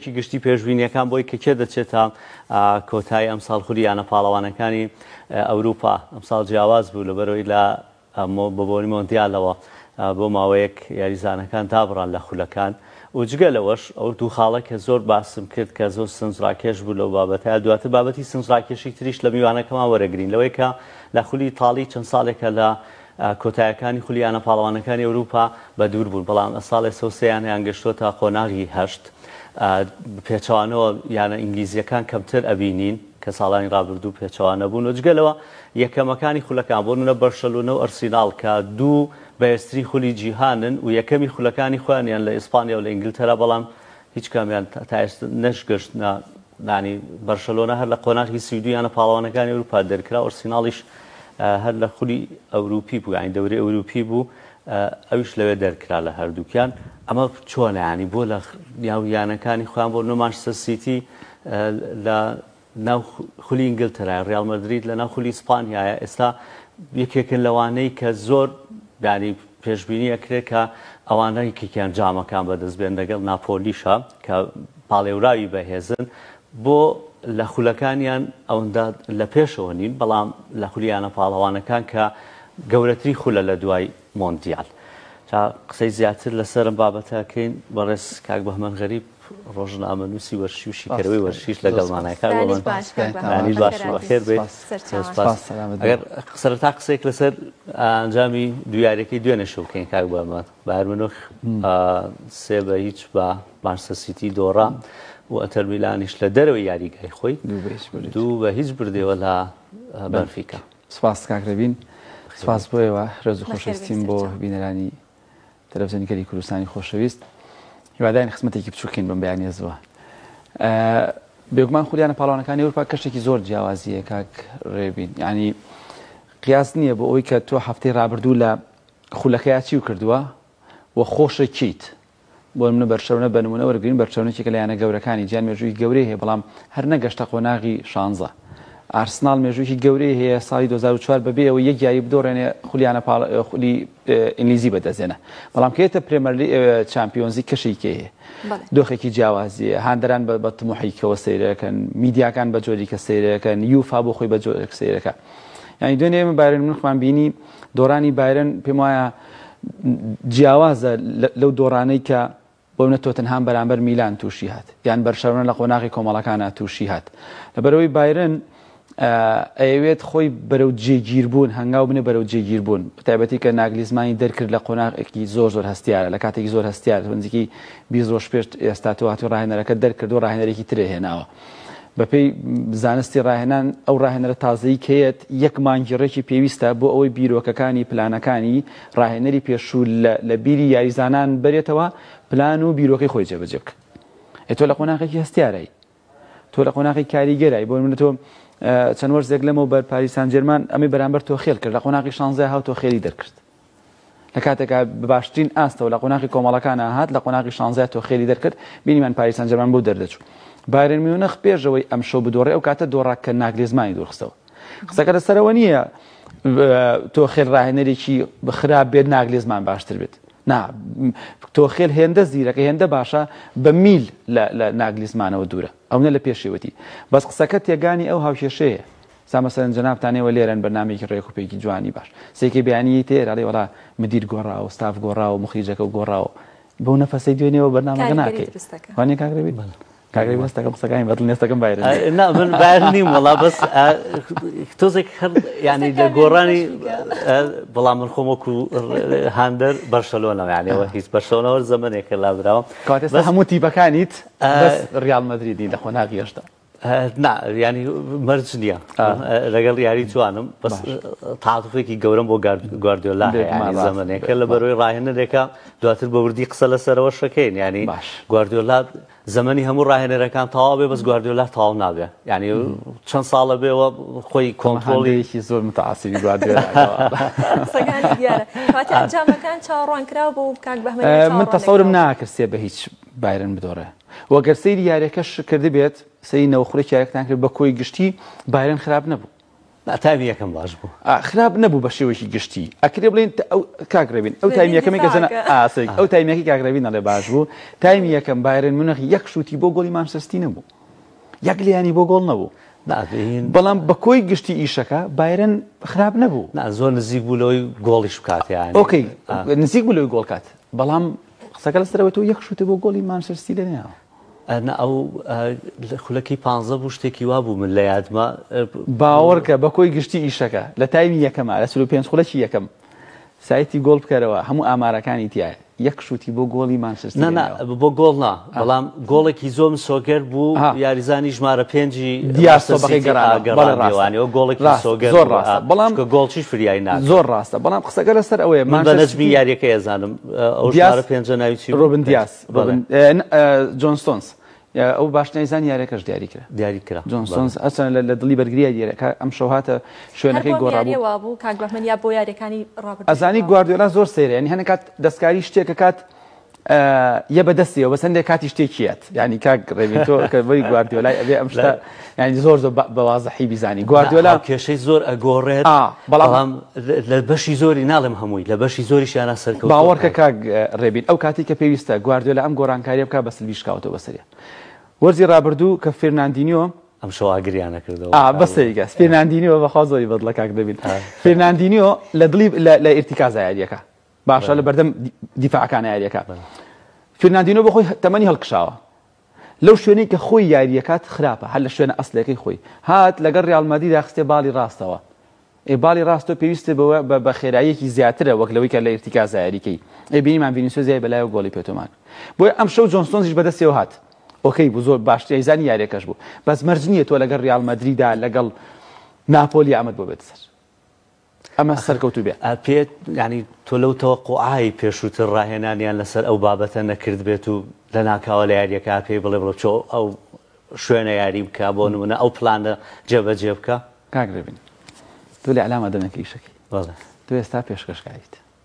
چی گشتی پێشبینیەکان بۆی کە کێ دەچێت تا کۆتایی ئەمساڵ خولی یانە پاڵەوانەکانی ئەوروپا ئەمساڵ جیاواز بوو لەبەرەوەی لە بە بۆنی مۆندیالەوە بۆ ماوەیەک یاریزانەکان دابڕان لە خولەکان و جگە لەوەش ئەو دوو خاڵە کە زۆر باسم کرد کە زۆر سنجڕاکێش بوو لەو بابەتە دواتر بابەتی سنجڕاکێشی تریش لە میوانەکەمان وەرەگرین لەوەی کە لە خولی ئیتاڵی چەند ساڵێکە لە کۆتایەکانی خولی یانە پاڵەوانەکانی ئەوروپا بە دوور بوون، بەڵام ئەساڵ ئێسە و سێ یانەیان گەشتۆتە قۆناغی هەشت، پێچەوانەوە یانە ئینگلیزیەکان کەمتر ئەبینین کە ساڵانی رابردوو پێچەوانە بوون و جگە لەوە یەکەمەکانی خولەکان بۆ نمونە بەرشەلۆنە و ئەرسیناڵ کە دوو بەهێزترین خولی جیهانن و یەکەمی خولەکانی خۆیان یان لە ئیسپانیا و لە ئینگلتەرا بەڵام هیچ کامیان تا ئێستا نەشگەشتنە نانی بەرشەلۆنە هەر لە قۆناخی سی دویانە پاڵەوانەکانی ئەوروپا دەرکرا ئۆرسیناڵیش هەر لە خولی ئەوروپی بوو ینی دەوری ئەوروپی بوو ئەوش لەوێ دەرکرا لە هەردووکیان ئەمە چۆنیانی بۆ لە یاویانەکانی خۆیان بۆ نۆمانشتە سیتی لە ناو خولی ئینگلتەرایە، ڕیاڵ مەدرید لەناو خولی ئیسپانیایە، ئێستا یەکێکن لەوانەی کە زۆر ینی پێشبینی ئەکرێت کە ئەوانە یەکێکیان جامەکان بەدەست بێن لەگەڵ ناپۆلیشە کە پاڵێوراوی بەهێزن بۆ لە خولەکانیان ئەوەندە لە پێشەوە نین بەڵام لە خولیانە پاڵەوانەکان کە گەورەتری خولە لە دوای مۆندیال. تا قسەی زیاتر لەسەر ئەم بابەتە کەین بەڕێز کاک بەهمەن غەریب ڕۆژنامەنووسی وەرشی و شیکەرەوەی وەرشیش لەگەڵمانە کاک بەمەن دانیش باش و بەخێر بێت سپاس ئەگەر سەرەتا قسەیەک لەسەر ئەنجامی دویارەکەی دوێنێ شەو کەین کاک بەمەن بایر منۆخ سێ بە هیچ بە مانسە سیتی دۆڕا و ئەتەر میلانیش لە دەرەوەی یاریگای خۆی دوو بە هیچ بردەوە لە بەنفیکە سپاس کاک رەبین سپاس بۆ ئێوە رێز و خۆشەویستیم بۆ بینەرانی تەلەفزیۆنی گەلی کوردستانی خۆشەویست هیوادارین خزمەتێکی بچووکین بەم بەیانێزەوە بێگومان خولیانە پاڵەوانەکانی ئەوروپا کەشتێکی زۆر جیاوازیە کاک رێبین ینی قیاس نییە بۆ ئەوی کە تۆ هەفتەی رابردوو لە خولەکەیاچی و کردووە و خۆشەکییت بۆ نمونە بەرچەونە بە نمونە وەرگرین، بەرچەونە یەکێکە لە یانە گەورەکانی جیهان، مێژوویەکی گەورەی هەیە بەڵام هەر نەگەشتە قۆناغی شانزە. ئارسناڵ مێژوویەکی گەورەی هەیە، ساڵی دوو هەزار و چوار بەبێ ئەوەی یەک یاری بدۆڕێنێ خولیانە پاڵ خولی ئینگلیزی بەدەستێنا، بەڵام کە یەتە پرێمەرلی چامپیۆنزی کەشێکی هەیە. دۆخێکی جیاوازیە، هاندەران بە تموحێکەوە سەیرەکەن، میدیاکان بە جۆریکە سەیرەکەن، یوفا بۆ خۆی بە جۆرێک سەیرەکە. یانی دوێنێ ئێمە بایرن مونخمان بینی، دۆڕانی بایرن پێم وایە جیاوازە لەو دۆڕانەی کە بۆمنە تۆتنهام بەرامبەر میلان تووشی هات یان بەرشەرۆنە لە قۆناغی کۆمەڵەکانە تووشی هات لەبەرەوەی بایرن ئەیەوێت خۆی بەرەو جێگیربوون هەنگاو بنێ بەرەو جێگیربوون تایبەتی کە ناگلیزمانی دەرکرد لە قۆناغێکی زۆر زۆر هەستیارە لە کاتێکی زۆر هەستیار بنزیکی بیست ڕۆژ پێش ئێستا تۆ هاتو ڕاهێنەرەکە دەرکردو ڕاهێنەرێکی ترێ هێناوە بەپێی زانستی ڕاهێنان ئەو ڕاهێنەرە تازەی کەیەت یەک مانگی ڕێکی پێویستە بۆ ئەوەی بیرۆکەکانی پلانەکانی ڕاهێنەری پێشوو لە بیری یاریزانان بەرێتەوە پلان و بیرۆکەی خۆی جێبەجێ بکە ئێتۆ لە قۆناغێکی هەستیارای تۆ لە قۆناغی کاریگەرای بۆ منە تۆ چەند وەرزێک لەمەوە بەر پاریسان جێرمان ئەمی بەرامبەر تۆ خێل کرد لە قۆناغی شانزای هاو تۆ خێری دەرکرد لە کاتێکا بە باشترین ئاستەوە لە قۆناغی کۆمەڵەکانە هات لە قۆناغی شانزەیا تۆخێلی دەرکرد بینیمان پاریس سانجێرمان بۆ دەردەچوو بایرن میونخ پێشەوەی ئەمشەو بدۆڕێ ئەو کاتە دۆڕا کە ناگلێزمانی دوورخستەوە قسەکە لەسەرەوە نییە تۆخێل ڕاهێنەرێکی خراپ بێت ناگلێزمان باشتر بێت نا تۆخێل هێندە زیرەکە هێندە باشە بە میل لە ناگلیزمانەوە دوورە ئەونە لە پێشێوەتی بەس قسەکە تێگانی ئەو هاوکێشەیە سا مەسەلەن جەنابتان ئێوە لێرەن بەرنامەیەکی ڕێک و پێکی جوانی باش سێکێ بیانی یەی تێر ئەڵێ وەڵا مدیر گۆڕاوە ستاف گۆڕاوە مخریجەکەو گۆڕاوە بەو نەفەسەی دوێنێوە بەرنامەکە ناکەی وانیە کاک رەبیر؟ کاک رەبیر هەستەکەم قسەکانی بەدڵ نیە هەستەکەم بایرن نیە نا من بایرن نیم وەڵا بەس تۆزێک هەر یعنی لە گۆڕانی بەڵام من خۆم وەکو هاندەر بەرشەلۆنەوە یانەوە هیچ بەرشەلۆنەوە زەمنێکە لابراوە کاتێ هەموو تیبەکانیت ڕیال مەدریدی لە خۆناغی هێشتا نا یانی مەرج نییە لەگەڵ یاری جوانم بەس تااتفێکی گەورم بۆ گواردیۆلا زەمنێکە لە بەرەوەی ڕاهێنەرێکە دواتر بە وردی قسە لەسەرەوە شەکەین ینی گواردیۆلا زمانی هەموو ڕاهێنەرەکان تەواو بێ بەس گواردیۆلا تاو نابێ ینی چەند ساڵە بێەوە خۆی کۆنتۆڵێکی زۆر متعاسی گواردیۆلاکان چاڕوان کرا بۆ کاک بە من تەسەورم ناکرسێ بە هیچ بایرن بدۆڕێ وە گەر سەیری یاریەکەش کردبێت سەیری نەوەخورێکی یاریەکەتان کرد بە کۆی گشتی بایرن خراپ نەبوو نا تایمی یەکەم باش بوو خراپ نەبوو بە شێوەیەکی گشتی ئەکرێ بڵێن ئەو کاک رێبین ئەو تایمی یەکەمی گەزەن ئاسێک ئەو تایمیەکی کاک رێبین دەڵێ باش بوو تایمی یەکەم بایرن منەخ یەک شووتی بۆ گۆڵی مانسەستی نەبوو یەک لیانی بۆ گۆڵ نەبوو بەڵام بە کۆی گشتی ئیشەکە بایرن خراپ نەبوو زۆر نزیک بوو لەوەی گۆڵیش بکاتیان ئۆکەی نزیک بوو لەوەی گۆڵکات بەڵام قسەکە لەسەر ئەوەی تۆ یەک شووتە بۆ گۆڵی مانچستەر سیتی لێنەیاوە. ئەنا ئەو خولەکی پانزە بوو شتێکی وا بوو من لە یادمە باوەڕکە بە کۆی گشتی ئیشەکە لە تایمی یەکەمە لە چلو پێنج خولەکی یەکەم سایتی گۆڵ بکەرەوە هەموو ئامارەکانی تایە یەک شووتی بۆ گۆڵی مانچستەر نا نا بۆ گۆڵ نا بەڵام گۆڵێکی زۆر مسۆگەر بوو یاریزانی ژمارە پێنجی دیاستۆبەکەی گەڕانەوانەوە گۆڵێکی سۆگەر زۆر ڕاستە بەڵام گۆڵچی فریای نا زۆر ڕاستە بەڵام قسەگە لەسەر ئەوەیە من بە نەجمی یاریەکە ئێزانم ئەو ژمارە پێنجە ناوی چی ڕۆبن دیاس جۆنستۆنس ئەو باش نەیزان یارەکەش دیاری کرا دیاری کرا جۆنسۆنس ئەسەن لە دڵی بەرگریە دیارەکە ئەم شەوهاتە شوێنەکەی گۆڕابوو بوو کاک بەمن یا بۆ یارەکانی ڕابەر ئەزانی گواردیۆلا زۆر سەیرە ینی هەنکات دەستکاری شتێکە کات یە بەدەستیەوە بەس هەندێک کاتی شتێکیت ینی کاک ڕێبی تۆ کە بۆی گواردیۆلای ئەبێ ئەم شتە ینی زۆر زۆر بەوازەحی بیزانی گواردیۆلا کێشەی زۆر ئەگۆڕێت بەڵام لە بەشی زۆری ناڵم هەمووی لە بەشی زۆری شیانە سەرکە باوەڕکە کاک ڕێبین ئەو کاتی کە پێویستە گواردیۆلا ئەم گۆرانکاریە بکە بەس بیشکاوتە بەسەرە وەرزی ڕابردوو کە فێرناندینیۆ ئەم شەواگریانە کردەوە بەسەیگە فێرناندینیۆ بەخوا زۆری بەدڵە کاک دەبین فێرناندینیۆ لە دڵی لە ئرتیکا زایاریەکە باشە لەبەردەم دیفاع کانە یاریەکە فرناندینۆ بۆ خۆی تەمەنی هەڵکشاوە لەو شوێنەی کە خۆی یاریەکات خراپە هەر لە شوێنە ئەسلەکەی خۆی هات لەگەڵ ریالمەدی داخستێ باڵی ڕاستەوە ئێ باڵی ڕاستۆ پێویستە بەوە بە بە خێراییەکی زیاترە وەک لەوەی کە لە ئرتیکا زایریکەی ئێ بینیمان ڤینیسۆ زیای بەلایەوە گۆڵی پێتۆمان بۆی ئەم شەو جۆنسۆنزیش بەدەستەوە هات ئۆکەی بوو زۆر باشتری زانی یاریەکەش بوو بەس مەرج نییە تۆ لەگەڵ ریال مەدریدا لەگەڵ ناپۆلی ئامەد بۆ بێت سەر ئەمە سەرکەوتوو بێت. پێت یانی تۆ لەو تەوەقوعای پێشووتر ڕاهێنانیان لەسەر ئەو بابەتە نەکردبێت و لەناکاوە لە یارییەکە پێی بڵێ بڵێ چۆ ئەو شوێنە یاری بکە بۆ نمونە ئەو پلانە جێبەجێ بکە؟ کاک ڕێبین تۆ لە ئیعلامە دەمێکە ئیشەکەی بەڵێ. تۆ ئێستا پێشکەشکاریت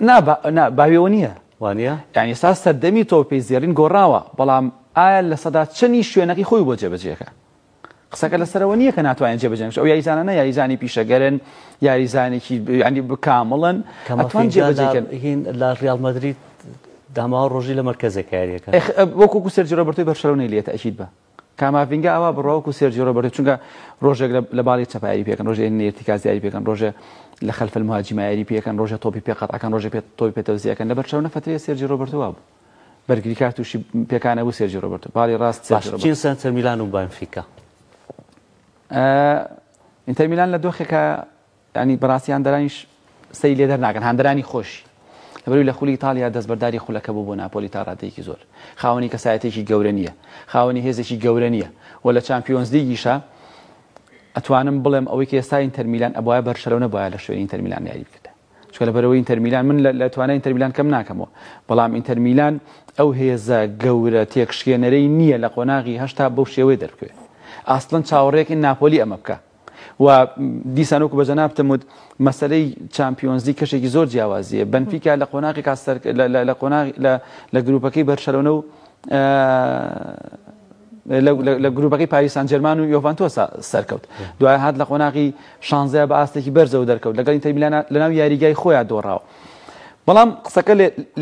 نا با نا باوێوە نییە. وانیە؟ یانی ئێستا سەردەمی تۆپی زێڕین گۆڕاوە، بەڵام ئایا لە سەدا چەنی شوێنەکەی خۆی بۆ جێبەجێکە؟ قسەکە لەسەرەوە نییە کە ناتوانێت جێبەجێ بکات، ئەو یاریزانانە یاریزانی پیشەگەرن، یاریزانێکی ینی کامڵن، ئەتوان جێبەجێ بکەن. هین لە ڕیاڵ مەدرید داماوە ڕۆژی لە مەرکەزە کاریەکە. ئێخ وەکوکو سێرجی ڕۆبەرتۆی بەرشەلۆنەی لێ تەئکید بە. کاماڤینگا ئاوا بڕوا وەکو سێرجیۆ ڕۆبەرتۆ چونکە ڕۆژێک لە باڵی چەپا یاری پێکەن ڕۆژێ لە ئیرتیکاز یاری پێکەن ڕۆژێ لە خەلف المهاجمە یاری پێکەن ڕۆژێ تۆپی پێ قەت ئەکەن ڕۆژێ پێ تۆپی پێ تەوزیەکەن لە بەرچاو نەفەتەیە سێرجی ڕۆبەرتۆ وابوو بەرگریکار تووشی پێکانە بوو سێرجی ڕۆبەرتۆ باڵی ڕاست سێرجی ڕۆبەرتۆ چین سەنتەر میلان و بەنفیکا ئینتەر میلان لە دۆخێکە یانی بەڕاستی هاندەرانیش سەری لێ دەرناکەن، هاندەرانی خۆشی لەبەرئەوەی لە خولی ئیتاڵیا دەستبەرداری خولەکە بوو بۆ ناپۆلی تا ڕادەیەکی زۆر خاوەنی کەسایەتیەکی گەورە نییە، خاوەنی هێزێکی گەورە نییە و لە چامپیۆنزلیگیشا ئەتوانم بڵێم ئەوەی کە ئێستا ئینتەرمیلان ئەبوایە بەرشەلۆنە بوایە لە شوێنی ئینتەرمیلان یاری بکردایە چونکە لەبەرەوەی ئینتەرمیلان من لە توانای ئینتەرمیلان کەم ناکەمەوە بەڵام ئینتەرمیلان ئەو هێزە گەورە تێکشکێنەرەی نییە لە قۆناغی هەشتا بەو شێوەی دەربکەوێت ئاسڵەن چاوەڕێکین ناپۆلی ئەمە بکە و دیسان وەکو بە جەنابتم وت مەسەلەی چامپیۆنزی کەشێکی زۆر جیاوازیە بنفیکا لە قۆناغی کاستەر لە قۆناغ لە گروپەکەی بەرشەلۆنە و لە گروپەکەی پاریسان جەرمان و یۆڤانتۆ سەرکەوت دوای هاات لە قۆناغی شانزە بە ئاستێکی بەرزەوە دەرکەوت لەگەڵ ئینتەرمیلانە لەناو یاریگای خۆیان دۆڕاوە بەڵام قسەکە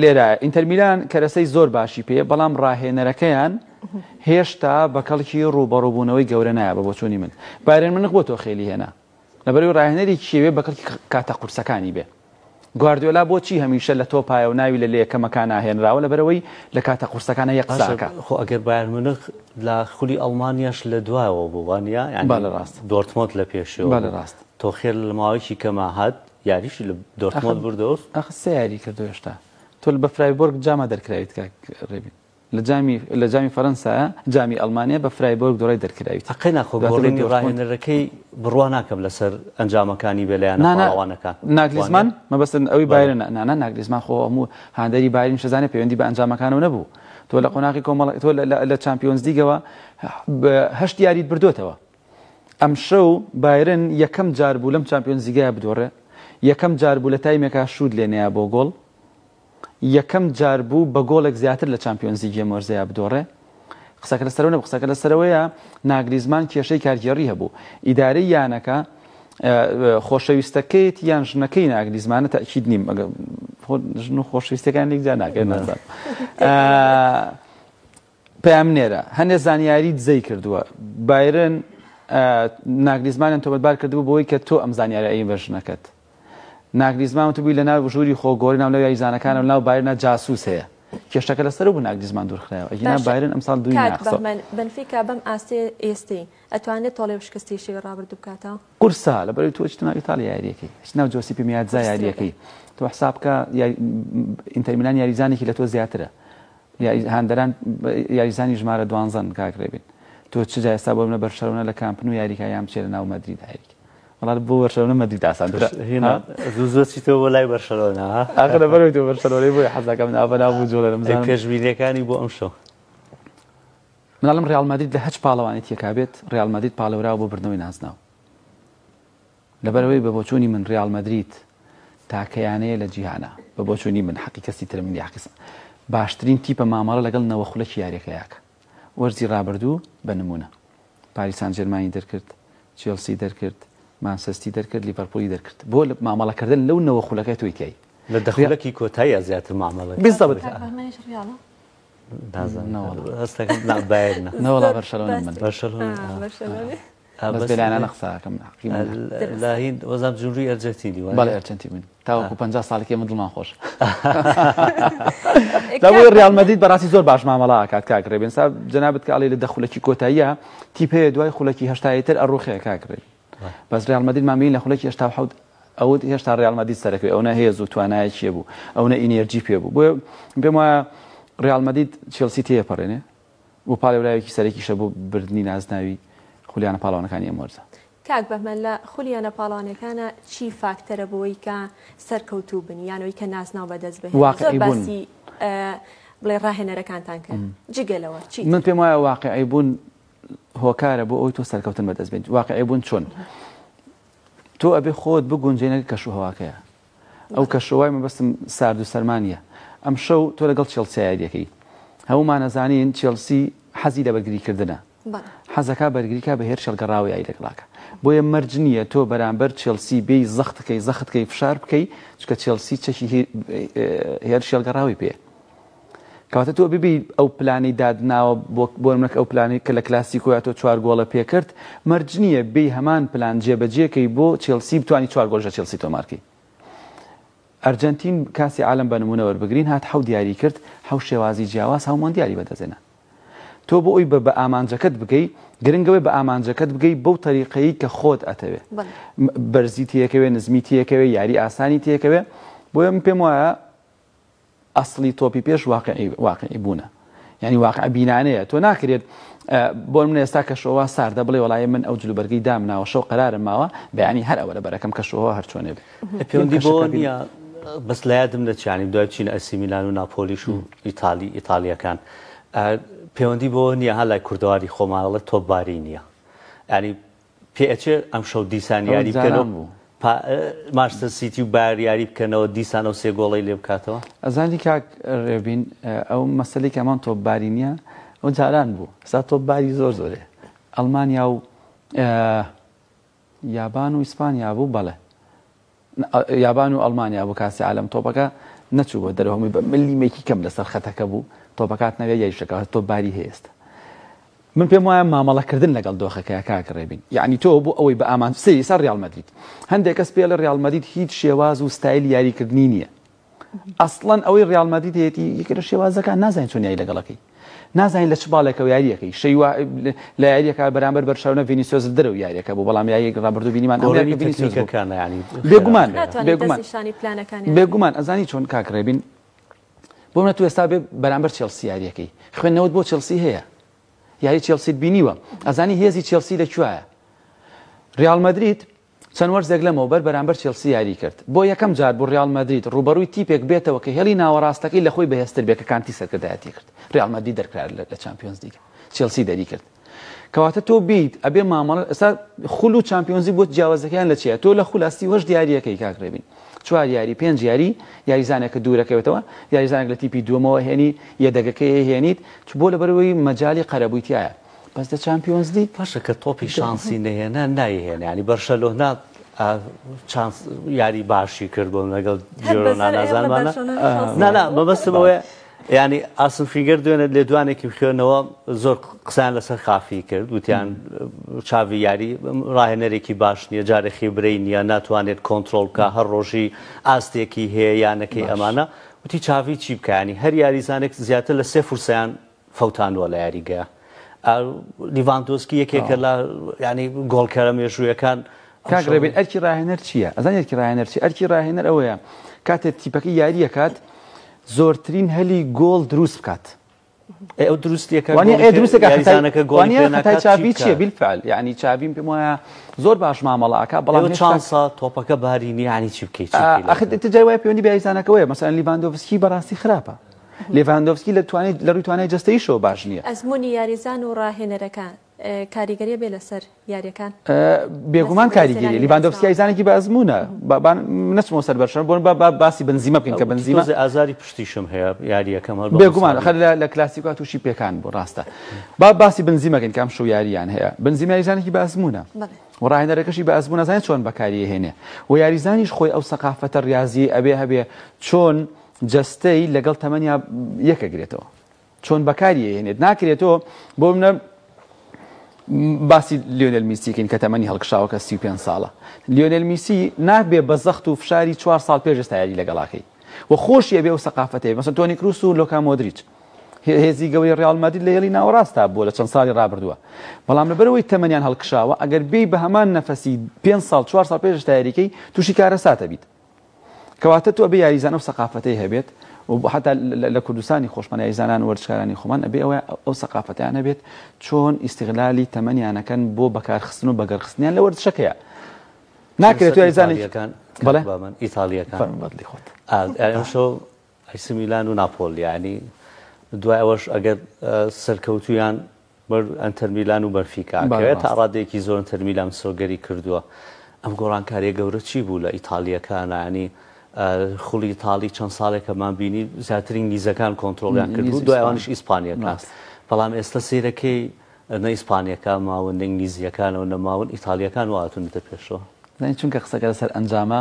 لێرە ئینتەرمیلان کەرەسەی زۆر باشی پێ بەڵام ڕاهێنەرەکەیان هێشتا بە کەڵکی ڕووبەڕووبوونەوەی گەورە نایە بە بۆچوونی من بایرن منخ بۆ تۆخێلی هێنا لەبەرەوەی ڕاهێنەرێکی شێوێ بە کەڵکی کاتە قورسەکانی بێ گواردیۆلا بۆچی هەمیشە لە تۆپایە و ناوی لە لە یەکەمەکان ناهێنراوە لەبەرەوەی لە کاتە قورسەکانە یەک قساکە خۆ ئەگەر بایەر منخ لە خولی ئەڵمانیاش لە دوایەوە بوو وانە یعنی ڕاست دۆرتمۆند لە پێشەوە بوو. بەڵێ ڕاست تۆ خێر لە ماوەیەکی کەما هات یاریشی لە دۆرتمۆند بردەوە ئەخ سێ یاری کردو هێشتا تۆ بە فرایبۆرگ جاما دەرکراویت کاک ڕێبین لە جامی لە جامی فەرەنسایە جامی ئەڵمانیا بە فرایبۆرگ دوڕای دەرکراوی تر. قەینا خۆ دواتر بە گۆڕینی دۆرتموند. ڕاهێنەرەکەی بڕوا ناکەم لەسەر ئەنجامەکانی بێ لە یانە نا نا پاڵەوانەکان. ناگلیزمان وانیە؟ مەبەستت ئەوی بەڵێ. بایرنە نا نا ناگلیزمان خۆ هەموو هاندەری بایرن شەزانە پەیوەندی بە ئەنجامەکانەوە نەبوو تۆ لە قۆناغی کۆمەڵ تۆ لە لە لە چامپیۆنزلیگەوە بە هەشت یاریت بردۆتەوە ئەمشەو بایرن یەکەم جار بوو لەم چامپیۆنزلیگایە بدۆڕێ یەکەم جار بوو لە تایمێکا شووت لێ نەیا بۆ گۆڵ یەکەم جار بوو بە گۆڵێک زیاتر لە چامپیۆنزلیگی ئەم وەرزەیا بدۆڕێ. قسەکە لەسەرەوە نەبوو، قسەکە لەسەرەوەیە ناگلیزمان کێشەی کارگێڕی هەبوو. ئیدارەی یانەکە خۆشەویستەکەیەتی یان ژنەکەی ناگلیزمانە تەئکید نیم ژن و خۆشویستەکان یەکجا ناکرێت نازان. پەیامنێرە هەندێک زانیاری دزەی کردووە بایرن ناگلیزمانیان تۆمەتبار کردبوو بۆی کە تۆ ئەم زانیارە ئەی بە ژنەکەت. ناگلیزمان وتبوی لە ناو ژووری خۆ گۆری ناو لەو یاریزانەکانە و ناو بایرنا جاسوس هەیە کێشەکە لە سەرو بو ناگلیزمان دور خرایەوە ئەگینا بایرن ئەم ساڵ دوی ناخسەوە. کاک بەهمەن بەنفیکا بەم ئاستەی ئێستەی ئەتوانێت تۆڵەی و شکستی شەوی ڕابردو بکاتەوە؟ قورسە لەبەرەوەی تۆ ئەچیتە ناو ئیتاڵیا یاریەکەی ئەچیتە ناو جۆسیپی میاتزا یاریەکەی تۆ حساب بکە ئینتەر میلان یاریزانێکی لە تۆ زیاترە هاندەران یاریزانی ژمارە دوانزەن کاک رێبین تۆ چجا ئێستا بۆ منە بەرشەلۆنە لە کامپ نو یاریکە یان بچێت لە ناو مەدرید یاریکە وەڵا بۆ بەرشەلۆنە مەدرید ئاسانترە هێنا زوو زوو چیتەوە بۆ لای بەرشەلۆنە ها ئاخر لەبەرەوەی تۆ بەرشەلۆنەی بۆی حەز دەکەم ناو بەناو بوو جۆڵەرە بزانم پێشبینیەکانی بۆ ئەمشەو مناڵم ریال مەدرید لە هەچ پاڵەوانی تێکا بێت ریال مەدرید پاڵێوراوە بۆ بردنەوەی نازناو لەبەرەوەی بە بۆچوونی من ریال مەدرید تاکەیانەیە لە جیهانە بە بۆچوونی من حەقی کەسی ترە من یاقیسم باشترین تیپە مامەڵە لەگەڵ نەوە خولەکی یاریەکەیاکە وەرزی رابردوو بە نمونە پاریس سانجێرمانی دەرکرد، چێڵسی دەرکرد، مانسەستی دەرکرد، لیڤەرپوڵی دەرکرد. بۆ مامەڵە کردن لەو نەوە خولەکەی تۆی تیای. لە دە خولەکی کۆتاییا زیاتر مامەڵە کرد. بالضبط. کاک بەهمەنیش ڕیاڵە؟ نازانم. نەوەڵا. هەست ئەکەم نا بایرنە. نەوەڵا بەرشەلۆنەم من. بەرشەلۆنە. ئا بەرشەلۆنە. بەس بێلایەنانە قسە ئەکەم. لا هین وەزام جونری ئەرجەنتینی وایە؟ بەڵێ ئەرجەنتین من. تاوەکو پەنجا ساڵی کە ئێمە دڵمان خۆش لە بۆی ڕیال مەدید بەڕاستی زۆر باش مامەڵا ئاکات کاک ڕێبێن سا جەنابت کە ئەڵێ لە دە خولەکی کۆتاییە تیپ هەیە دوای خولەکی هەشتایی تر ئەڕوخێ کاک ڕێبێن بەس ڕیال مەدید مامەی لە خولەکی هەشتا و حەوت ئەوت هێشتا ڕیال مەدید سەرەکەوێ ئەو نەهێز و توانایەکیە بوو ئەو نە ئینێرجی پێ بوو بۆیە پێم وایە ڕیال مەدید چێڵسی تێپەڕێنێ و پاڵێوراوێکی سەرەکیشە بۆ بردنی نازناوی خولیانە پاڵەوانەکانی ئەم وەرزە. کاک بەهمەن لە خولیانە پاڵەوانەکانە چی فاکتەرە بۆی کە سەرکەوتوو بن یان ئەوی کە نازناو بەدەست بهێنن زۆر باسی بڵێ ڕاهێنەرەکانتان کرد جگە لەوە چی من پێم وایە واقعی بوون هۆکارە بۆ ئەوی تۆ سەرکەوتن بەدەست بێت واقعی بوون چۆن تۆ ئەبێ خۆت بگونجێنەکە کەش و هەواکەیە ئەو کەشو وای مەبەستم سارد و سەرما نییە ئەمشەو تۆ لەگەڵ چێڵسیا یاری دەکەی هەموومان ئەزانین چێڵسی حەزی لە بەرگری کردنە حەزەکا بەرگری کا بە هێرشێڵ گەڕاوە یاری لەگڵاکە بۆیە مەرج نییە تۆ بەرامبەر چێڵسی بێی زەختکەی زەختکەی فشار بکەی چکە چێڵسی چەکی هێرشێڵ گەڕاوی پێ کەواتە تۆ ببیت ئەو پلانەی داتناوە بۆ نمونە ئەو پلانەی کە لە کلاسیکۆیا تۆ چوار گۆڵە پێکرد مەرج نییە بێی هەمان پلان جێبەجێکەی بۆ چێڵسی بتوانی چوار گۆڵش لە چێڵسی تۆمارکەی ئەرجەنتین کاسی عالەم بە نمونە وەربگرین هات حەوت یاری کرد حەوت شێوازی جیاواز هەوو مۆندیالی بەدەستهێنا تۆ بۆ ئەوی بە ئامانجەکەت بگەی گرنگە بە ئامانجەکەت بگەی بەو تەریقەیی کە خۆت ئەتەوێ بەرزی تێکەوێ نزمی تێکەوێ یاری ئاسانی تێکەوێ بۆیە من پێم وایە ئەسڵی تۆپی پێش واقعی واقعی بوونە یعنی واقع بینانەیە تۆ ناکرێت بۆ من ئێستا کەشەوە ساردە بڵێ وڵی من ئەو جلوبەرگی دامناوە شەو قرارم ماوە بەیانی هەر ئەوە لە بەرەکەم کەشەوە هەرچۆنێ پێوەندی بۆ نیە بەس لە یادم دەچانی دوای چین ئەسیمیلان و ناپۆلیش و ئیتالی ئیتالیەکان پەیوەندی بۆ نییە هەلای کوردەواری خۆمانڵە تۆباری نییە ینی پێئەچێ ئەمشەو دیسان ئەوە یاری جاران بکەنەوە بوو پا ماشتر سیتی و بایەر یاری بکەنەوە دیسان ئەو سێ گۆڵەی لێ بکاتەوە؟ ئەزانی کاک رێبین ئەو مەسەلەی کە ئەمان تۆپ باری نیە ئەو جاران بوو ئێستا تۆپ باری زۆر زۆرێ ئەڵمانیا و یابان و ئیسپانیا بوو بەڵێ. یابان و ئەڵمانیا بوو کاسی عالەم تۆپەکە نەچووە دەرەوە هەمووی بە ملیمێکی کەم لەسەر خەتەکە بوو تۆپە کات نەوێ یایشەکە تۆ باری هێست من پێم وایە مامەڵەکردن لەگەڵ دۆخەکەی کاکڕێبین یعنی تۆ بۆ ئەوەی بە ئامان سری سەر ریال مەدرید هەندێک کەس پێڵە ریال مەدید هیچ شێواز و ستایل یاریکردنی نییە ئەسڵەن ئەوەی ڕیاڵ مەدرید هەیەتی یەکێک لە شێوازەکان نازانین چۆن یاری لەگەڵەکەی نازانین لە چ باڵێکەوە یاریەکەی شەی وا لە یاریەکە بەرامبەر بەرشەونە ڤینیسیۆز درەو یاریەکە بۆ بەڵام یاریەک ڕابردو بینیمان ئەوەیەکە ڤینیسیۆزەکان یانی بێگومان ناتوانین بێگومان نیشانی پلانەکانی بێگومان ئەزانی چۆن کاک ڕێبین بۆ منە تو ئێستا بێ بەرامبەر چێڵسی یاریەکەی خوێندنەوەت بۆ چێڵسی هەیە یاری چێڵسیت بینیوە ئەزانی هێزی چێڵسی لە کوایە ریال مەدرید چەند وەرزێک لەمەوبەر بەرامبەر چێڵسی یاریی کرد، بۆ یەکەم جار بوو ریال مەدرید رووبەڕووی تیپێک بێتەوە کە هێڵی ناوەڕاستەکەی لە خۆی بەهێزتر بێت کە کانتی سەرکردایەتی کرد ریال مەدرید دەرکرا لە چامپیۆنزلیگ چێڵسی دەریکرد کەواتە تۆ بیت ئەبێ مامەڵە ئێستا خول و چامپیۆنزی بۆ جیاوازەکەیان لە چیە تۆ لە خول ئەستی هەشت یاریەکەی کاک رێبین چوار یاری پێنج یاری یاریزانێک کە دوورەکەوێتەوە یاریزانێک لە تیپی دووەمەوە هێنی یەدەگەکەی هێنیت چ بۆ لەبەرەوەی مەجالی قەرەبووی تایە بەس لە چامپیۆنز لیگ باشە کە تۆپی شانسی نەهێنا نایهێنا یعنی بەرشەلۆنە چانس یاری باشی کرد بۆم لەگەڵ جۆرۆنا نازانمانە نا نا مەبەستمەوەی ینی ئاسم فیگەر دوێنێت لێدوانێکی بخێنەوە زۆر قسان لەسەر خافی کرد وتیان چاوی یاری ڕاهێنەرێکی باش نییە جارێکی برەی نییە ناتوانێت کۆنتترۆل بکە هەر ڕۆژی ئاستێکی هەیە یانەکەی ئەمانە وتی چاوی چی بکانی هەر یاریزانێک زیاتر لە سێ فرسیان فەوتاندوە لە یاریگە. لیڤاندۆسکی یەکێکە لە یانی گۆڵکەرە مێژوویەکان. کاک ڕێبین ئەرکی ڕاهێنەر چییە؟ ئەزانی ئەرکی ڕاهێنەر چییە؟ ئەرکی ڕاهێنەر ئەوەیە کاتێ تیپەکەی یاری ئەکات زۆرترین هەلی گۆڵ دروست بکات. ئەو دروستیەکە بالفعل یعنی چاڤیم پێم وایە زۆر باش مامەڵە ئاکا بەڵام چانسا تۆپەکە باری نیانی چی بکەیت ئەخ جای وای پێوەنی بەیزانەکەەوەی مەسەن لیڤاندۆڤسکی بەڕاستی خراپە لیڤاندۆڤسکی لە توانای لە ڕووی توانای جەستەییشەوە باش نییە. ئەزموونی یاریزان و ڕاهێنەرەکان کاریگەریی بێ لەسەر یارییەکان؟ بێگومان کاریگەرییە، لیڤاندۆڤسکی یاریزانێکی بە ئەزموونە، با نەچمەوە سەر بەرشەلۆنە، بۆ نموونە با باسی بنزیمە بکەین کە بنزیما. تۆزێ ئازاری پشتیشم هەیە یارییەکەم هەر بە مساڵ. بێگومان ئەخەر لە لە کلاسیکۆ تووشی پێکان بوو ڕاستە. با باسی بنزیما بکەین کە ئەمشەو یارییان هەیە. بنزیما یاریزانێکی بە ئەزموونە. بەڵێ. و ڕاهێنەرەکەشی بە ئەزموونە ئەزانێ چۆن بەکاریی ئەهێنێ و یاریزانیش خۆی ئەو سەقافەتە ڕیازییەی ئەوێ هەبێ چۆن جەستەی لەگەڵ تەمەنیا یەک ئەگرێتەوە چۆن بەکاری ئەهێنێت ناکرێتەوە بۆ منە باسی لیۆنل میسیکەین کە تەمەنی هەڵکشاوەکە 35 ساڵە لیۆنل میسی نابێ بە زەخت و فشاری 4 سال پێش ئێستایاری لەگەڵاکەی و خۆشیە بێ و سەقافەتێ مەسە تۆنی کروس و لۆکا مۆدریچ هێزی گەوری ڕیال مادید لە هێڵی ناوەڕاستا بووە لە چەند ساڵی ڕابردووە بەڵام لەبەرەوەی تەمەنیان هەڵکشاوە ئەگەر بێی بە هەمان نەفەسی پێ ساڵ چوار ساڵ پێشتا یاریکەی تووشی کارەساتە بیت کەواتە تۆ ئەبێ یاریزان ئەو سەقافەتەی هەبێت و بۆ حتا لە کوردستانی خۆشمان یاریزانان وەرزشکارانی خۆمان ئەبێ ئەوە ئەو سەقافەتیان هەبێت چۆن ئیستغلالی تەمەنیانەکەن بۆ بەکارخستن و بەگەڕخستنیان لە وەرزشەکەیە ناکرێت یاریزانێکان بەڵێ ئیتاڵیەکان فەرموو بەدڵی خۆت ئەمشەو ئەیسی میلان و ناپۆل یانی دوای ئەوەش ئەگەر سەرکەوتوویان بەر ئەنتەرمیلان و بەنفیکا کەوێت تا ڕادەیەکی زۆر ئەنتەرمیلان مسۆگەری کردووە ئەم گۆڕانکاریە گەورە چی بوو لە ئیتالیەکانە ینی خوڵی ئیتالی چەند ساڵێکەمان بینی زیاتر ئینگلیزەکان کۆنتترۆلیان کردو دوایوانش ئیسپانیەکان بەڵام ئێستا سیرەکەی نە ئیسپانیەکە ماون نە ئینگلیزیەکانەوە نەماون ئیتالیەکان و هاتونەتە پێشەوە چونکە قسەکە لەسەر ئەنجامە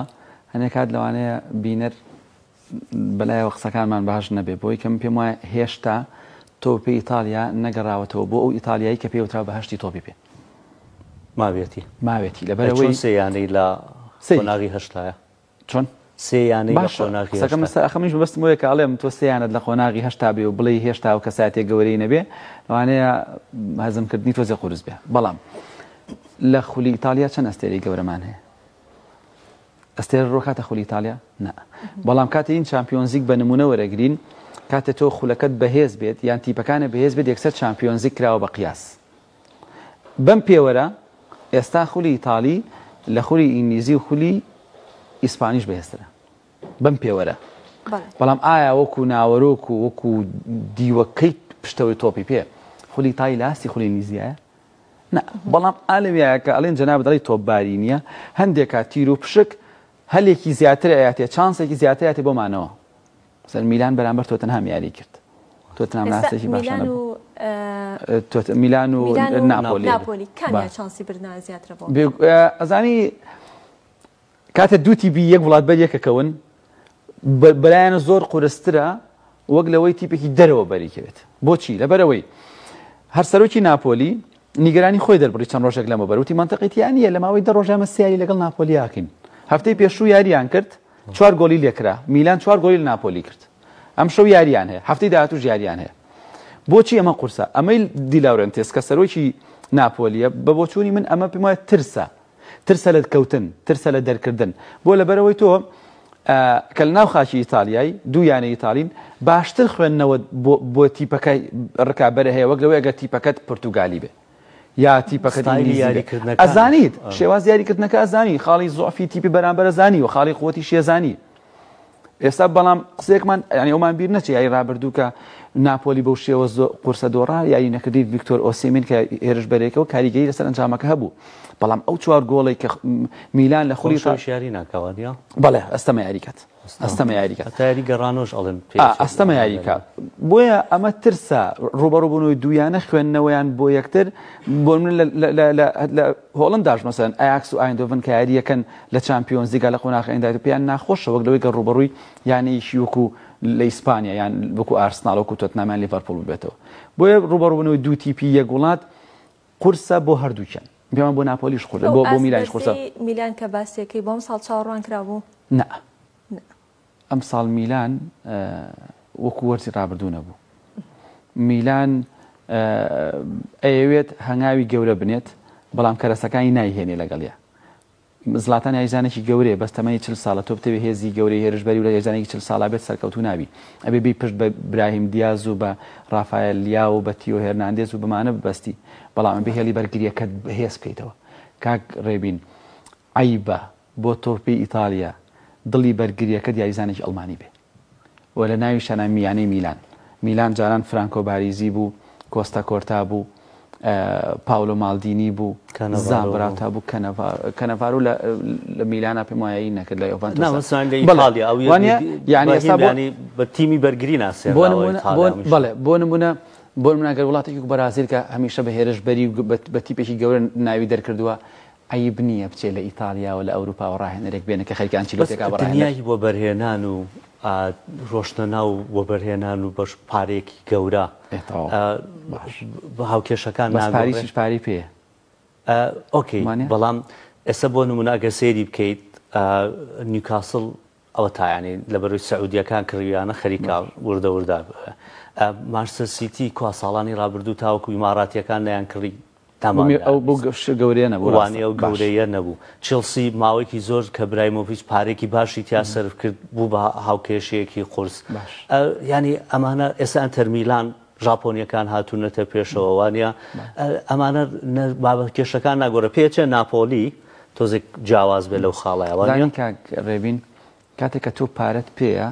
هەنێک کات لەوانەیە بینەر بەلایەوە قسەکانمان باش نەبێ، بۆ یەکەم پێم وایە هێشتا تۆپی ئیتاڵیا نەگەڕاوەتەوە بۆ ئەو ئیتاڵیای کە پێیوترا بەهەشتی تۆپی پێ. ماویەتی. ماویەتی لەبەرئەوەی. ئەی چۆن سێ یانەی لە قۆناغی هەشتایە؟ چۆن؟ سێ یانەی لە قۆناغی هەشتا. باشە قسەکەم منیش مەبەستم ئەوەیە کە ئەڵێم تۆ سێ یانەت لە قۆناغی هەشتا بێ و بڵێی هێشتا ئەو کەسایەتیە گەورەی نەبێ لەوانەیە هەزمکردنی تۆزێ قورس بێ، بەڵام لە خولی ئیتاڵیا چەند ئەستێرەی گەورەمان هەیە؟ ئەستێرە ڕۆکاتە خولی ئیتاڵیا؟ نا. بەڵام کاتێ ین چامپیۆنزیگ بە نموونە وەرەگرین، کاتێ تۆ خولەکەت بەهێز بێت یان تیپەکانت بەهێز بێت یەکسەر چامپیۆنزیگ کراوە بە قیاس. بەم پێوەرە ئێستا خولی ئیتاڵی لە خولی ئینگلیزی و خولی ئیسپانیش بەهێزترە. بەم پێوەرە. بەڵام ئایا وەکوو ناوەرۆک و وەکوو دیوەکەی پشتەوەی تۆپی پێ خولی ئیتاڵی لە ئاستی خولی ئینگلیزیایە؟ نا بەڵام ئا لەویایە کە ئەڵێن جەنابت ئەڵێی تۆپباری نییە، هەندێک کات تیر و پشک هەلێکی زیاتر ئەیاتێ، چانسێکی زیاتر ئەیاتێ بۆ مانەوە. مەسەلەن میلان بەرامبەر تۆتنهام یاریی کرد. تۆتنهام لە ئاستێکی باشا نەبوو. میلان و ناپۆلی. ناپۆلی کامیان چانسی بردنە زیاترە بۆ؟ ئەزانی کاتێ دوو تیپی یەک وڵاتبەر یەکەکەون بەلایانە زۆر قورسترە وەک لەوەی تیپێکی دەرەوە بەریکەوێت بۆچی لەبەرەوەی هەر سەرۆکی ناپۆلی نیگەرانی خۆی دەربڕی چەند ڕۆژێک لەمە بەروتی منتەقیتیانە لە ماوەی دە ڕۆژامە سیاری لەگەڵ ناپۆلیاکەین هەفتەی پێشوو یاریان کرد چوار گۆلی لێکرا میلان چوار گۆلی ناپۆلی کرد ئەم شەو یاریان هەیە هەفتەی داهاتوو یاریان هەیە بۆچی ئەمە قورسە ئەمەی دیلاورنتێس کە سەرۆکی ناپۆلیە بە بۆچووی من ئەمە پێم وایە ترسە ترسە لە کەوتن، ترسە لە دەرکردن، بۆ لەبەرئەوەی تۆ کە لە ناو خاکی ئیتالیای دوو یانەی ئیتالین باشتر خوێندنەوەت بۆ تیپەکە ڕکابەرە هەیە وەک لەوەیەگە تیپەکەت پرتوگالی بێ یا تیپەکەت ئینگلیزی ئەزانیت شێواز یاریکردنەکە ئەزانی خاڵی زۆفی تیپی بەرامبەر ئەزانی و خاڵی قوتی شێزانی ئێستا بەڵام قسێکمان ینی ئەومان بیر نەچێ یای رابردوو کە ناپۆلی بەو شێوە قورسە دۆڕا یاری نەکردی ڤیکتۆر ئۆسیمین کە هێرش بەرێکەوە کاریگەری لەسەر ئەنجامەکە هەبوو بەڵام ئەو چوار گۆڵی کە میلان لە خولی شاری ناکەوادیا بەڵێ ئەستەمە یاریکات ئەستەمە یاریکە تاری گەڕانۆش ئەڵێن ئەستەمە یاریکە بۆیە ئەمە ترسە ڕوبەڕوبوونەوەی دویانە خوێندنەوەیان بۆ یەکتر بۆ من لە هۆڵنداش مەسەلەن ئایاکس و ئایندۆڤن کە یارییەکەن لە چامپیۆنزلیگا لە قۆناخی ئەنداوی پێیان ناخۆشە وەک لەوەی گەر ڕووبەڕووی یانەیەکی وەکو لە ئیسپانیا یان وەکو ئارسناڵ وەکو تۆتنام یان لیڤەرپوڵ ببێتەوە بۆیە ڕووبەڕووبوونەوەی دوو تیپی یەک وڵات قورسە بۆ هەردووکیان پێمان بۆ ناپۆلیش قورسە بۆ میلانیش قورسە ئەو ئاست بەرزەی میلان کە باسیەکەی بۆ ئەمساڵ چاوەڕوان کرابوو؟ نا. ئەمساڵ میلان وەکو وەرزی ڕابردوو نەبوو. میلان ئەیەوێت هەنگاوی گەورە بنێت، بەڵام کەرەسەکانی نایهێنێ لەگەڵیا. زڵاتان یاریزانێکی گەورەیە، بەس تەمەنی چل ساڵە، تۆ بتەوێ هێزی گەورەی هێرشبەری و لە یاریزانێکی چل ساڵا بێت سەرکەوتوو نابی. ئەبێ بێی پشت بە براهیم دیاز و بە ڕافایێل لیاو و بە تیۆ هێرناندێز و بەمانە ببەستی، بەڵام ئەبێ هێڵی بەرگرییەکەت بەهێز بکەیتەوە. کاک ڕێبین عەیبە بۆ تۆپی ئیتاڵیا دڵی بەرگرییەکەت یاریزانێکی ئەڵمانی بێ و لە ناویشانا یانەی میلان میلان جاران فرانکۆ باریزی بوو کۆستا کۆرتا بوو پاولۆ مالدینی بوو زابراتا بوو کەنەڤارو لە میلانا پێم وایە ئی نەکرد لە یۆڤانتۆس بە تیمی بەرگری ناسی بەڵێ بۆ نمونە بۆ مناگەر وڵاتێکی بەرازیل کە هەمیشە بە هێرشبەری و بە تیپێکی گەورە ناوی دەرکردووە عەیب نییە بچێ لە ئیتاڵیاوە لە ئەوروپاوە ڕاهێنەرێک بێنێ کە خەریکە بەس ئەنچیلۆتێکا بە ڕاهێنەر. دنیای وەبەرهێنان و ڕۆشتنە ناو وەبەرهێنان و بەش پارەیەکی گەورە ئێ تەواو باش هاوکێشەکان بەس ناگۆڕێ پاریسیش پارەی پێیە ئۆکەی وانیە؟ بەڵام ئێستا بۆ نمونە ئەگەر سەیری بکەیت نیوکاسڵ ئەوە تا یانی لەبەروی سعودیەکان کڕیویانە خەریکە وردە وردا مارسە سیتی کوا ساڵانی رابردوو تاوەکو ئیماراتیەکان نیان کڕی ئەو بۆ گەشت گەورەیە نەبووانێ ئەو گەورەیە نەبوو چێڵسی ماوەیەکی زۆر کە برای مۆڤچ پارێکی باشی تیا سەرف کرد بوو بە هاوکێشەیەکی قورس ینی ئەمانە ئێستا ئەنتەرمیلان ژاپۆنیەکان هاتونەتە پێشەوە وانیە ئەمانە بابە کێشەکان ناگۆرە پێچێ ناپۆلی تۆزێک جیاواز بێ لەو خاڵای وانیان کاک ڕێبین کاتێک کە تۆ پارەت پێەیە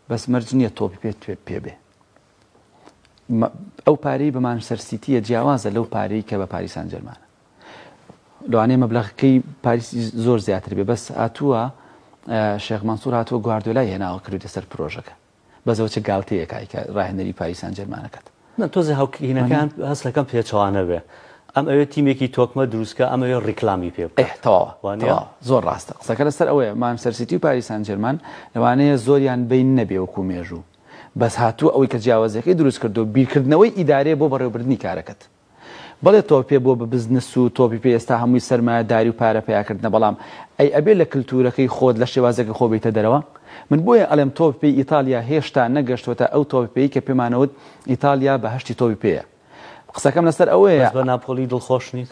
بەس مەرج نییە تۆپی پێ توێ پێ بێ ئەو پارەی بەمان سەرسیتیە جیاوازە لەو پارەی کە بە پاریسان جەرمانە لەوانەیە مەبلغەکەی پاریسی زۆر زیاتر بێ بەس هاتووە شێخمانسوور هاتووە گواردۆلای هێناوە کردێ سەر پرۆژەکە بەسەوە چ گالتەیەک ئایکا راهێنەری پاریس سانجێرمانەکەت. نا تۆزێ هاوکینەکان هەستەکەم پێچەوانە بێ ئەم ئەوێ تیمێکی تۆکمە دروستکە ئەم ئەوێ ریکلامی پێ بکا ئەه تەواوە وانیە؟ تەواوە زۆر راستە قسەکە لەسەر ئەوەیە مانچستەر سیتی و پاریس سانجێرمان لەوانەیە زۆریان بەین نەبێ وەکو مێژوو بەس هاتووە ئەوەی کە جیاوازیەکەی دروستکردووە بیرکردنەوەی ئیدارەیە بۆ بەڕێوەبردنی کارەکەت بەڵێ تۆپی پێ بۆ بزنس و تۆپی پێ ئێستا هەمووی سەرمایە داری و پارە پەیا کردنە بەڵام ئەی ئەبێ لە کلتورەکەی خۆت لە شێوازەکەی خۆ بێیتە دەرەوە من بۆیە ئەڵێم تۆپی پێی ئیتاڵیا هێشتا نەگەشتۆتە ئەو تۆپی پێی کە پێمانەوت ئیتاڵیا بەهەشتی تۆپی پێیە قسەکەم لەسەر ئەوەیە. بەس بە ناپۆلی دڵخۆش نیت؟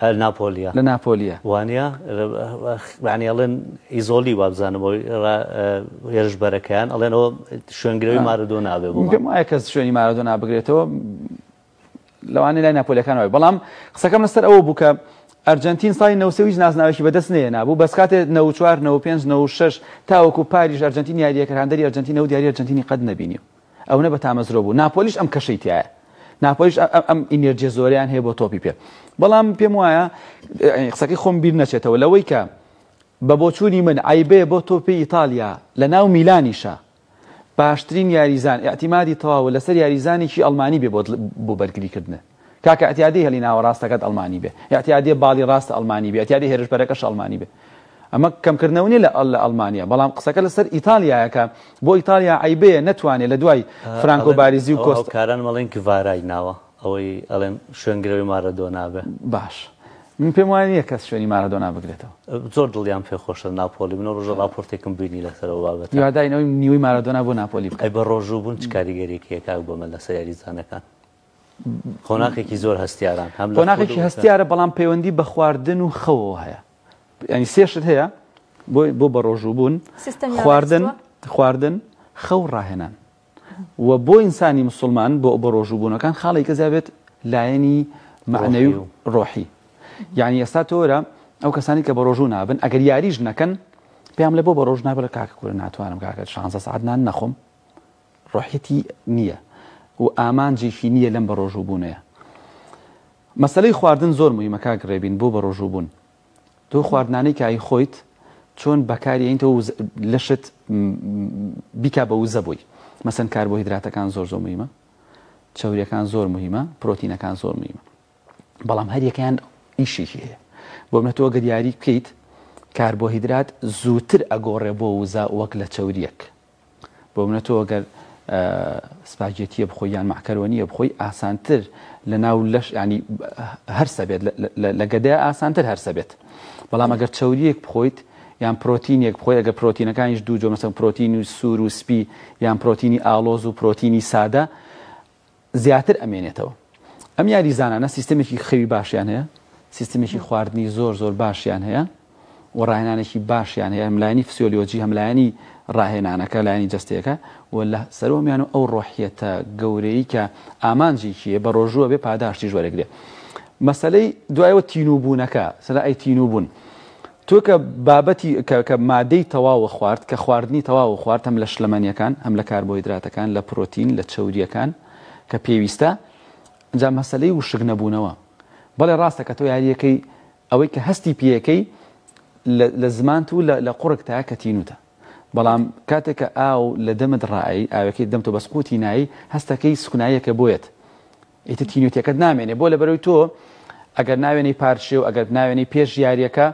لە ناپۆلیە. لە ناپۆلیە. وانیە؟ یانی ئەڵێن ئیزۆلی وابزانم ئەوی را هێرشبەرەکەیان ئەڵێن ئەوە شوێنگرەوی مارەدۆنا بێ بۆمان. پێم وایە کە شوێنی مارەدۆنا بگرێتەوە لەوانەیە لای ناپۆلیەکان وابێ بەڵام قسەکەم لەسەر ئەوە بوو کە ئەرجەنتین ساڵی نەوەد و سێ هیچ نازناوێکی بەدەست نەهێنابوو بەس کاتێ نەوەد و چوار نەوەد و پێنج نەوەد و شەش تاوەکو پاریش ئەرجەنتین یارییەکرد هاندەری ئەرجەنتین نەبوو یاری ئەرجەنتینی قەت نەبینیوە ئەونە بە تامەزرۆ بوو ناپۆلیش ئەم کەشەی تایە ناپۆلیش ئەم ئینێرجێ زۆریان هەیە بۆ تۆپی پێ بەڵام پێم وایە قسەکەی خۆم بیر نەچێتەوە لەوەی کە بە بۆچوونی من عیبێ بۆ تۆپی ئیتالیا لە ناو میلانیشە باشترین یاریزان اعتیمادی تەواوە لەسەر یاریزانێکی ئەڵمانی بێ بۆ بەرگریکردنە کاکە ئەتیادی هێلی ناوەڕاستەکەت ئەڵمانی بێ ئەتیادی باڵی ڕاست ئەڵمانی بێ ئەتیادی هێرش بەرەکەش ئەڵمانی بێ ئەمە کەمکردنەوە نیە لە لە ئەڵمانیا بەڵام قسەکە لەسەر ئیتالیایە کە بۆ ئیتالیا عەیبەیە نەتوانێت لە دوای فرانکۆ باریزی و کۆست کاران مەڵێن گڤارای ناوە ئەوەی ئەڵێن شوێنگرەوەی مارەدۆنا بێ باش من پێم وایە نیە کەس شوێنی مارەدۆنا بگرێتەوە زۆر دڵیان پێ خۆشە ناپۆلی من ڕۆژە ڕاپۆرتێکم بینی لەسەرەوە بابەت یاداینەوەی نیوەی مارەدۆنا بۆ ناپۆلی بکە بە ڕۆژوو بوون چ کاریگەریەکە کاک بۆمە لەسەر یاریزانەکان قۆناخێکی زۆر هەستیاران هەم قۆناخێکی هەستیارە بەڵام پەیوەندی بە خواردن و خەوەوە هەیە ینی سێشت هەیە بۆی بۆ بە ڕۆژوو بوون خواردن خواردن خەو ڕاهێنان و بۆ ئینسانی مسلمان بۆ بە ڕۆژوو بوونەکان خاڵی کە زیابێت لایەنی معنەوی و ڕۆحی یعنی ئێستا تۆرە ئەو کەسانی کە بە ڕۆژوو نابن ئەگەر یاریش نەکەن پێم لە بۆ بە ڕۆژ نابە کاکە کورە ناتوانم کاکە شانزە سعات نان نەخۆم ڕۆحیەتی نیە و ئامانجێکی نیە لەم بەڕۆژووبونەیا. مەسەلەی خواردن زۆر موهیمە کاک ڕێبین بۆ بەڕۆژووبون. تۆ خواردنانەی کە ئەیخۆیت چۆن بەکاری ئەینتەوە و لەشت بیکا بە وزە بۆی. مەسەن کاربۆهیدراتەکان زۆر زۆر موهیمە. چەوریەکان زۆر موهیمە. پرۆتینەکان زۆر موهیمە. بەڵام هەر یەکەیان ئیشێکی هەیە. بۆ منە تۆ گەر یاری بکەیت کاربۆهیدرات زووتر ئەگۆڕێ بۆ وزە وەک لە چەوریەک. بۆمنە تۆ گەر سپاگێتیە بخۆی یان مەعکەرۆنیە بخۆی ئاسانتر لە ناو لەش ینی هەرسە بێت لە گەدەیە ئاسانتر هەرسە بێت بەڵام ئەگەر چوریەک بخۆیت یان پرۆتینێک بخۆی ئەگە پرۆتینەکانیش دوو جۆمەسەن پرۆتینی سوور و سپی یان پرۆتینی ئالۆز و پرۆتینی سادە زیاتر ئەمێنێتەوە ئەم یاریزانانە سیستمێکی خەوی باشیان هەیە سیستمێکی خواردنی زۆر زۆر باشیان هەیە و ڕاهێنانێکی باشیان هەیە ملایانی فسیۆلیۆجی هەملایانی ڕاهێنانەکە لایانی جستەکە و لە سەرۆمیان و ئەو ڕۆحیەتە گەورەی کە ئامانجێکیە بە ڕۆژووە بێ پاداشتی ژوەرەگرێ مەسلەی دوایەوە تینوبوونەکە سەرای تینوبوون تۆ کە بابەتی کە کە مادەی تەواوە خوارد کە خواردنی تەواوە خوارد هەم لە شلەمەنیەکان هەم لە کاربۆیدراتەکان لە پرۆتین لە چەوریەکان کە پێویستە جا مەسەلەی وشک نەبوونەوە بەڵێ ڕاستە کە تۆ یاریەکەی ئەوەی کە هەستی پێیەکەی لە لە زمانت و لە لە قوڕگ تا کە تینوتە بەڵام کاتێک کە ئاو لە دەمت ڕائەی ئاوەکەی دەم تۆ بەس قوتی نایی هەستەکەی سوکناییەکە بۆیەت ئیتر تینویتەکەت نامێنێ بۆ لەبەرەوەی تۆ ئەگەر ناوێنەی پارچێ و ئەگەر ناوێنەی پێش یاریەکە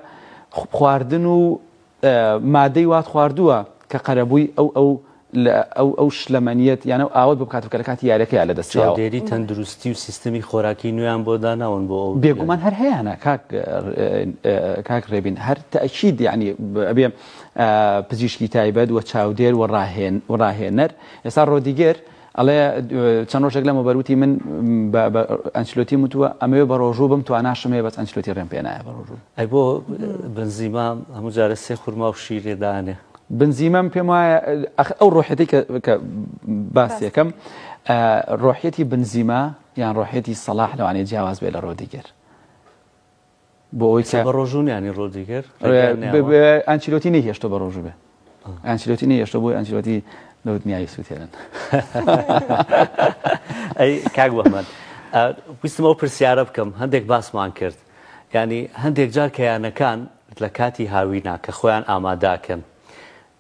خواردن و مادەی وات خواردووە کە قەرەبووی ئەو ئەو ئەو ئەو شلەمەنیت یانە ئاوت بکات بکە لە کاتی یارەکەیان لە دەست دێری تەندروستی و سیستمی خۆراکی نوێیان بۆ داناون بۆ ئەو بێگومان هەر هەیەە کاک کاک ڕێبین هەر تاکیید یعنی ئەبێ پزیشکی تایبەت و چاودێر و ڕاهێن و ڕاهێنەر ئێستا ڕۆدیگەر ئەڵێ چەند ڕۆژێک لەمەوبەر وتی من بە ئەنچلۆتیم وتووە ئەمەوێ بە ڕۆژوو بم تواناشم هەیە بەس ئەنچلۆتی ڕێم پێ نایە بە ڕۆژوو ئەی بۆ بنزیما هەموو جارە سێ خورما و شیر لێ دانێ بنزیمەم پێم وایە ئەخ ئەو ڕۆحێتی کە کە باس یەکەم ڕۆحیەتی بنزیما یان ڕۆحێتی سەڵاح لەوانەیە جیاواز بێ لە ڕۆدیگەر. بۆ ئەوەی کە بەڕۆژوو نیانی ڕۆدریگەر ئەنچیلۆتی نەیهێشتۆ بەڕۆژوو بێ ئەنچیلۆتی نەیهێشتۆ بۆی ئەنچیلۆتی لە دنیای سووتێنن ئەی کاک بەمەند ویستمەوە پرسیارە بکەم هەندێک باسمان کرد ینی هەندێک جار کەیانەکان لە کاتی هاوینا کە خۆیان ئاماداکەن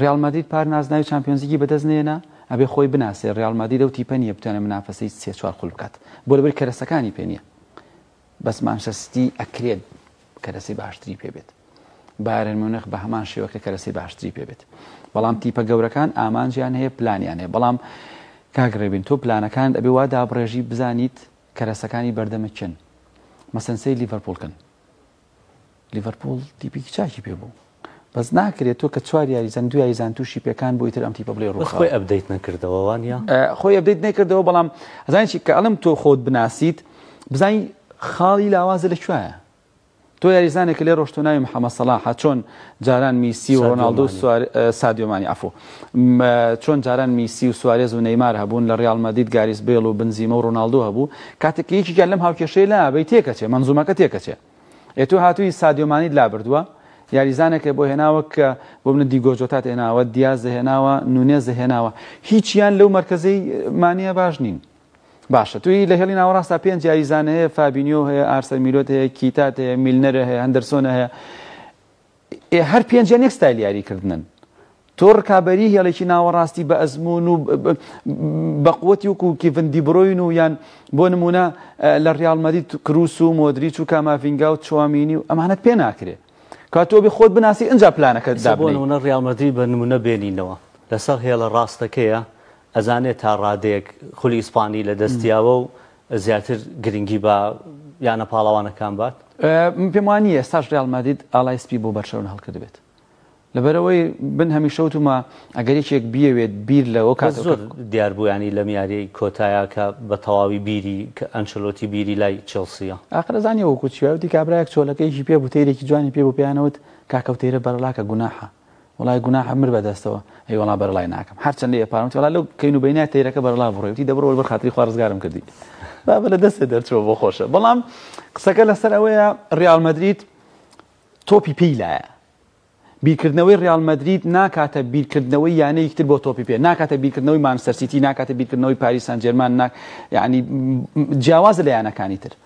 ریال مەدرید پار نازناوی چامپیۆنزلیگی بەدەست نەیەنا ئەبێ خۆی بناسێ ریال مەدرید ئەو تیپە نیە بتوانێ منافەسەی سێ چوار خول بکات بۆ لەبری کەرەسەکانی پێ نیە بەس مانچستەر سیتی ئەکرێ کەرەسەی باشتری پێ بێت بایرن میونخ بە هەمان شێوە کە کەرەسەی باشتری پێ بێت بەڵام تیپە گەورەکان ئامانجیان هەیە پلانیان هەیە بەڵام کاگڕێبین تۆ پلانەکان ئەبێ وا دابڕێژی بزانیت کەرەسەکانی بەردەمە چن مەسەنسەی لیڤەرپولکن لیڤەرپوڵ تیپێکی چاکی پێ بوو بەس ناکرێت تۆ کە چوار یاریزان دو یاریزان تووشی پێکان بۆی تر ئەم تیپە بڵێ ڕوو خۆی ئەبدەیت نەکردەوە وانە خۆی ئەبدەیت نەکردەوە بەڵام ئەزانانی کە ئەڵم تۆ خۆت بناسیت بزانین خاڵی لاوازە لە کوایە تۆ یاریزانێک لێ ڕۆشتۆ ناوی محەممە سەلاحە چۆن جاران میسی و ڕۆناالدو سادیۆمانی ئەفۆ چۆن جاران میسی و سوارێز و نەیمار هەبوون لە ڕیاڵ مەدید گاریس بەیڵ و بنزیمە و ڕۆناڵدۆ هەبوو کاتێک کە یەکێکیان لەم هاوکێشەیە لا بەی تێکەچێ مەنزومەکە تێکەچێ ئێ تۆ هاتووی سادیۆ مانیت لا بردووە یاریزانەکە بۆ هێناوە کە بۆ منە دیگۆ جۆتات هێناوە دیاز دەهێناوە نونێز دەهێناوە هیچیان لەو مەرکەزەی مانیە باش نین باشە توی لە هێڵی ناوەڕاستا پێنج یاریزان هەیە فابینیۆ هەیە ئارسەر میلۆت هەیە کیتات هەیە میلنەرە هەیە هەندەرسۆنە هەیە ئێ هەر پێنجیان یەک ستایل یاریکردنن تۆ ڕکابەری هێڵێکی ناوەڕاستی بە ئەزمون و بەقوتی وکو کیڤن دیبرۆین و یان بۆ نمونە لە ڕالمەدی کروس و مۆدری چو کامافینگا و چوامینی و ئەمانەت پێ ناکرێ کاتۆبی خۆت بناسی ئەجا پلانەکە دابنە ڕالمەدی بە نمونە بێنینەوە لەسەر هێڵە ڕاستەکەیە ئەزانێت تا ڕادەیەک خولی ئیسپانی لە دەستیاوە و زیاتر گرنگی بە یانە پاڵەوانەکان بات؟ من پێم وا نییە ئێستاش ریال مەدرید ئاڵای سپی بۆ بەرشەلۆنە هەڵکردبێت لەبەرئەوەی من هەمیشە وتومە ئەگەر یەکێک بیەوێت بیر لەوە کات بەس زۆر دیار بوو یانی لەم یاریەی کۆتایە کە بە تەواوی بیری کە ئەنچلۆتی بیری لای چێڵسیە. ئاخر ئەزانی وەکو چیە وتی کابرایەک چۆلەکەیەکی پێ بوو تەیرێکی جوانی پێ بوو پێیانەوت کاکە و تەیرە بەرەڵاکە گوناحە. وەڵای گوناحە مر بەدەستەوە ئەی وەڵا بەرەڵای ناکەم هەرچەند لێ پارم وتی وەڵا لەو کەین و بەینای تەیرەکە بەرەڵا بڕۆی وتی دەبڕەوە بەر خاتری خوا ڕزگارم کردی بابە لە دەستێ دەرچووە بۆ خۆشە بەڵام قسەکە لەسەر ئەوەیە ڕیال مەدرید تۆپی پێی لایە بیرکردنەوەی ڕیال مەدرید ناکاتە بیرکردنەوەی یانەیەکتر بۆ تۆپی پێ ناکاتە بیرکردنەوەی مانسەرسیتی ناکاتە بیرکردنەوەی پاریسان جێرمان ناک یعنی جیاواز لە یانەکانی تر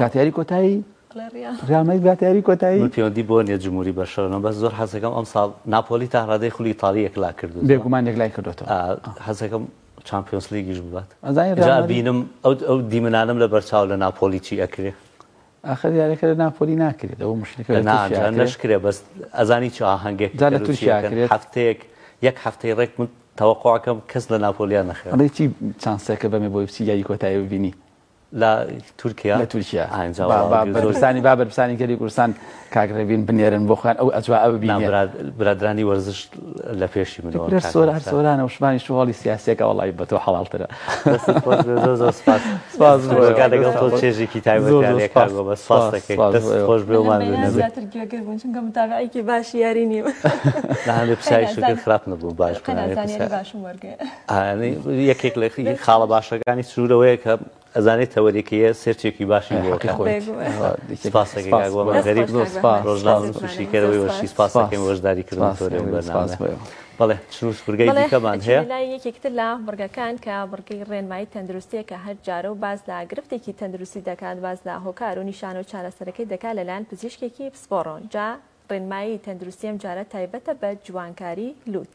کاتیاری کۆتایی ڕامەی باتیاری کۆتایی پەیوەندی بۆ نیە جمهوری بەشەرەوە بەس زۆر حەزەکەم ئەم ساڵ ناپۆلی تا ڕادەی خولی تاڵی یەکلا کردو بێگومان یەکلای کردێتەوە حەزەکەم چمپیۆنس لیگیش ببات بینم ئەو دیمنانم لە بەرچاو لە ناپۆلی چی ئەکرێ ئاخر یارەکە لە ناپۆلی ناکرێت ئەو مشکلەکە ناشکرێ بەس ئەزانی چ ئاهەنگێک لە تورکیا هەفتەیەک یەک هەفتەی ڕێک من تەوەقعەکەم کەس لە ناپۆلیان نەخێڵێکی چانسەکە بەمێ بۆی بچی یاری کۆتایی ببینی لە تورکیا لە تورکیا بەرپرسانی با بەرپرسانی گەلی کوردستان کاک ڕێبین بنێرن بۆ خۆیان ئەو ئەتوا ئەو بینێ برادرانی وەرزش لە پێشی مرۆ لە سۆر هەر سۆرانە وشمانی شوواڵی سیاسەکە وڵی بە تۆ حەڵالترە لەگەڵ تۆ چێژێکی تایبەت خۆش بێمان باشی یاری نیوە هەندێک پسای شکر خراپ نەبوو باش باش وەرگێ یەکێک لە خاڵە باشەکانی سروورەوەیە کە ئەزانێت تەوەریکەیە سێرچێکی باشی بۆکەریبشیکەرەوەی وەشی سپاسەکەم وەشداری کردن بەڵێ چنوورگەیمان هەیە لای یەکێکتر لە بڕگەکان کە بڕگەی ڕێنمایی تەندروستیە کە هەر جارە و باز لە گرفتێکی تەندروستی دەکات باز لە هۆکار و نیشان و چارەسەرەکەی دەکات لەلایەن پزیشکێکی پسپۆڕۆن جا ڕێنمایی تەندروستیم جارە تایبەتە بە جوانکاری لوت.